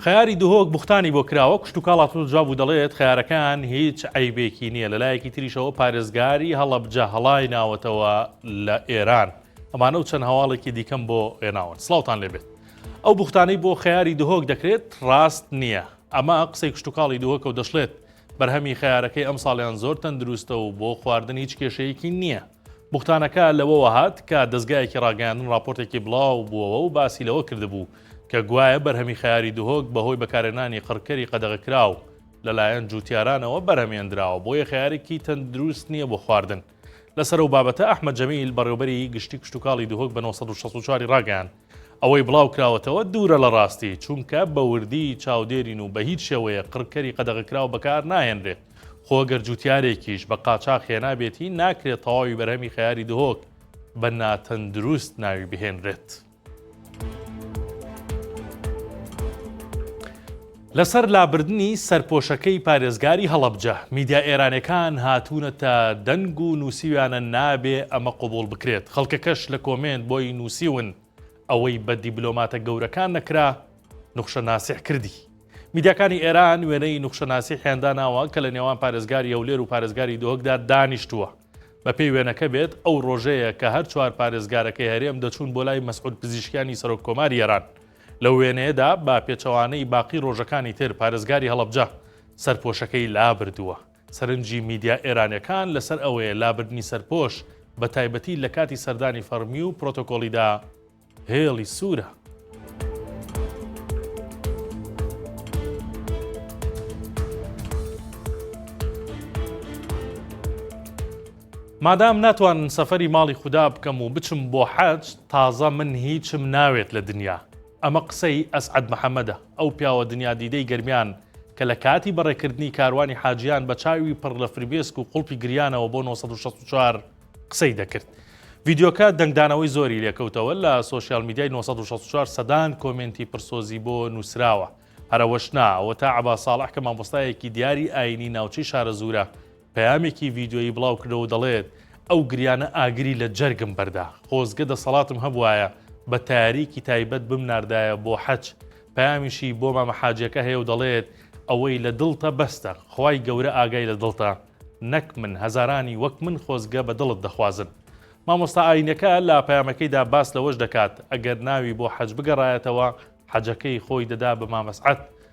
خەیاری دهۆک بوختانی بۆ کراوە کوشتتوکاڵ هاتوتە جواب و دەڵێت خەیارەکان هیچ عیبێکی نییە لەلایەکی تریشەوە پارێزگاری هەڵەبجە هەڵای ناوەتەوە لە ئێران ئەمانە و چەند هەواڵێکی دیکەم بۆ ئێناون سلااوان لێبێت ئەو بوختانەی بۆ خەیاری دهۆک دەکرێت ڕاست نییە ئەمە قسەی کوشتتوکاڵی دهۆکە و دەشڵێت بەرهەمی خەیارەکەی ئەم ساڵیان زۆر تەندروستە و بۆ خواردن هیچ کێشەیەکی نییە بوختانەکە لەوەوە هات کە دەزگایەکی ڕاگەیاندن ڕاپۆرتێکی بڵاو بووەوە و باسی لەوە کردبوو کە گوایە بەرهەمی خەیاری دهۆک بەهۆی بەکارهێنانی قڕکەری قەدەغەکراو لەلایەن جووتیارانەوە بەرهەمێندراوە بۆیە خەیارێکی تەندروست نییە بۆ خواردن. لەسەر ئەو بابەتە ئەحمەد جەمیل بەڕێوەبەری گشتی کشتوکاڵی دهۆک بە نۆ سەد و شەست و چوار ی ڕاگەیاند، ئەوەی بڵاوکراوەتەوە دوورە لە ڕاستی، چونکە بە وردی چاودێرین و بە هیچ شێوەیەک قڕکەری قەدەغەکراو بەکار ناهێنرێت، خۆ گەر جووتیارێکیش بە قاچاخ هێنابێتی ناکرێت تەواوی بەرهەمی خەیاری دهۆک بە ناتەندروست ناوی بهێنرێت. لەسەر لابردنی سەرپۆشەکەی پارێزگاری هەڵەبجە، میدیا ئێرانیەکان هاتوونەتە دەنگ و نووسیویانە نابێ ئەمە قبوڵ بکرێت، خەڵکەکەش لە کۆمێنت بۆی نووسیون ئەوەی بە دیبلۆماتە گەورەکان نەکرا نوخشە ناسیح کردی. میدیاکانی ئێران وێنەی نوخشە ناسیحیان داناوە کە لە نێوان پارێزگاری هەولێر و پارێزگاری دهۆکدا دانیشتووە. بە پێی وێنەکە بێت ئەو ڕۆژەیە کە هەر چوار پارێزگارەکەی هەرێم دەچوون بۆ لای مەسعود پزیشکیانی سەرۆک کۆماری ئێران لەو وێنەیەدا بە پێچەوانەی باقی رۆژەکانی تر پارێزگاری هەڵەبجە سەرپۆشەکەی لابردووە، سەرنجی میدیا ئێرانیەکان لەسەر ئەوەیە لابردنی سەرپۆش بە تایبەتی لە کاتی سەردانی فەڕمی و پرۆتۆکۆڵیدا هێڵی سوورە. مادام ناتوانن سەفەری ماڵی خودا بکەم و بچم بۆ حەج تازە من هیچم ناوێت لە دنیا ئەمە قسەی ئەسعەد محەمەدە ئەو پیاوە دنیا دیدەی گەرمیان کە لە کاتی بەڕێکردنی کاروانی حاجیان بە چاوی پڕ لە فرمێسک و قوڵپی گریانەوە بۆ 964 قسەی دەکرد ڤیدیۆکە دەنگدانەوەی زۆری لێکەوتەوە لە سوسیال میدیای 964 سەدان کۆمێنتی پرسۆزی بۆ نووسراوە هەرەوەش نا ئەوە تا عبا ساڵح کە مامۆستایەکی دیاری ئاینی ناوچەی شارەزوورە پەیامێکی ڤیدیۆیی بڵاوکردەوە و دەڵێت، ئەو گریانە ئاگری لە جەرگم بەردا، خۆزگە دەسەڵاتم هەبوایە بە تەیارەیەکی تایبەت بمناردایە بۆ حەج، پەیامیشی بۆ مامە حاجیەکە هەیە و دەڵێت، ئەوەی لە دڵتە بەستە، خوای گەورە ئاگای لە دڵتە، نەک من، هەزارانی وەک من خۆزگە بە دڵت دەخوازن. مامۆستا ئایینەکە لە پەیامەکەیدا باس لەوەش دەکات، ئەگەر ناوی بۆ حەج بگەڕایەتەوە، حەجەکەی خۆی دەدا بە مامەسعەد،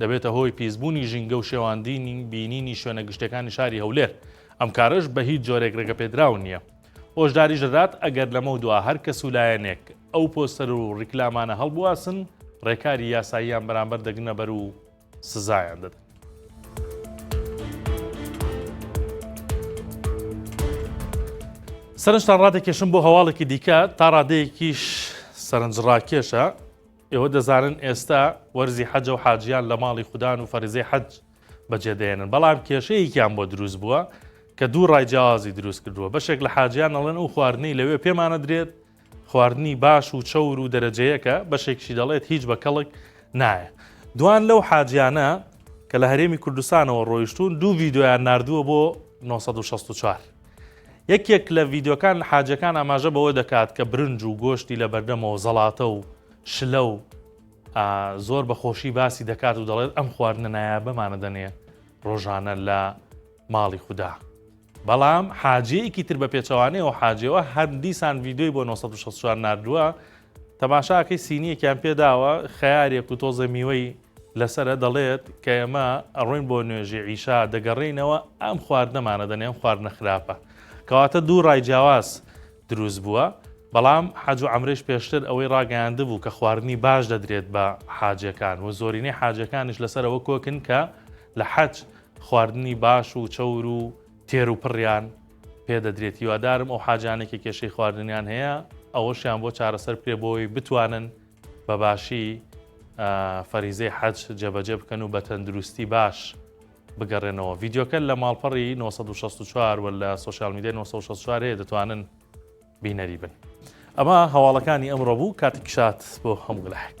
دەبێتە هۆی پیسبوونی ژینگە و شێواندنی بینینی شوێنە گشتیەکانی شاری هەولێر، ئەم کارەش بە هیچ جۆرێک رێگەپێدراو نییە. هۆشداریش دەدات ئەگەر لەمەودوا هەر کەس و لایەنێک ئەو پۆستەر و ریکلامانە هەڵبواسن، رێکاری یاساییان بەرامبەر دەگرنە بەر و سزایان دەدەن. سەرنجتان رادەکێشم بۆ هەواڵێکی دیکە، تا رادەیەکیش سەرنجڕاکێشە، ئێوە دەزانن ئێستا وەرزی حەجە و حاجیان لە ماڵی خودان و فەرزەی حەج بەجێ دێنن بەڵام کێشەیەکیان بۆ دروست بووە کە دوو ڕای جیازی دروست کردووە بەشێک لە حاجیان ئەڵێن ئەو خواردنەی لەوێ پێمانە درێت خواردنی باش و چەور و دەرەجەیەکە بەشێکشی دەڵێت هیچ بە کەڵک نایە دوان لەو حاجیانە کە لە هەرێمی کوردستانەوە ڕۆیشتون دوو ڤیددیویان نردووە بۆ 1964 یەکێک لە ڤیدیۆکان حاجەکان ئاماژە بەوە دەکات کە برنج و گۆشتی لە بەردەمەوە زەڵاتە و شلە و زۆر بە خۆشی باسی دەکات و دەڵێت ئەم خواردنە نایابەمانە دەنێ ڕۆژانە لە ماڵی خوددا. بەڵام حاجەیەکی تر بە پێچەوانەیەوە حاجەوە هەر دیسان ڤیددیوی بۆ 1964 نردووە تەماشاکەی سینیەکیان پێداوە خیارێک و تۆزە میوەی لەسەرە دەڵێت کە ئێمە ئەڕۆین بۆ نوێژی عیشا دەگەڕێینەوە ئەم خواردنەمانە دەنێ ئەم خواردنە خراپە کەواتە دوو ڕای جیاواز دروست بووە بەڵام حەج و ئەمرش پێشتر ئەوەی ڕاگەیاند بوو کە خواردنی باش دەدرێت بە حاجەکان و زۆرینەی حاجەکانش لەسەرەوە کۆکن کە لە حەج خواردنی باش و چەور و تێر و پڕیان پێدەدرێت هیوادارم ئەو حاجانێکی کێشەی خواردنیان هەیە ئەوەشیان بۆ چارەسەر پێ بۆی بتوانن بە باشی فەریزەی حەج جێبەجێ بکەن و بە تەندروستی باش بگەڕێنەوە ڤیددیوکە لە ماڵپەڕی 1964 و لە سوسیال میدی 1964 هەیە دەتوانن بینەری بن ئەمە هەواڵەکانی ئەمڕۆ بوو کاتی کشات بۆ هەموو لەحک.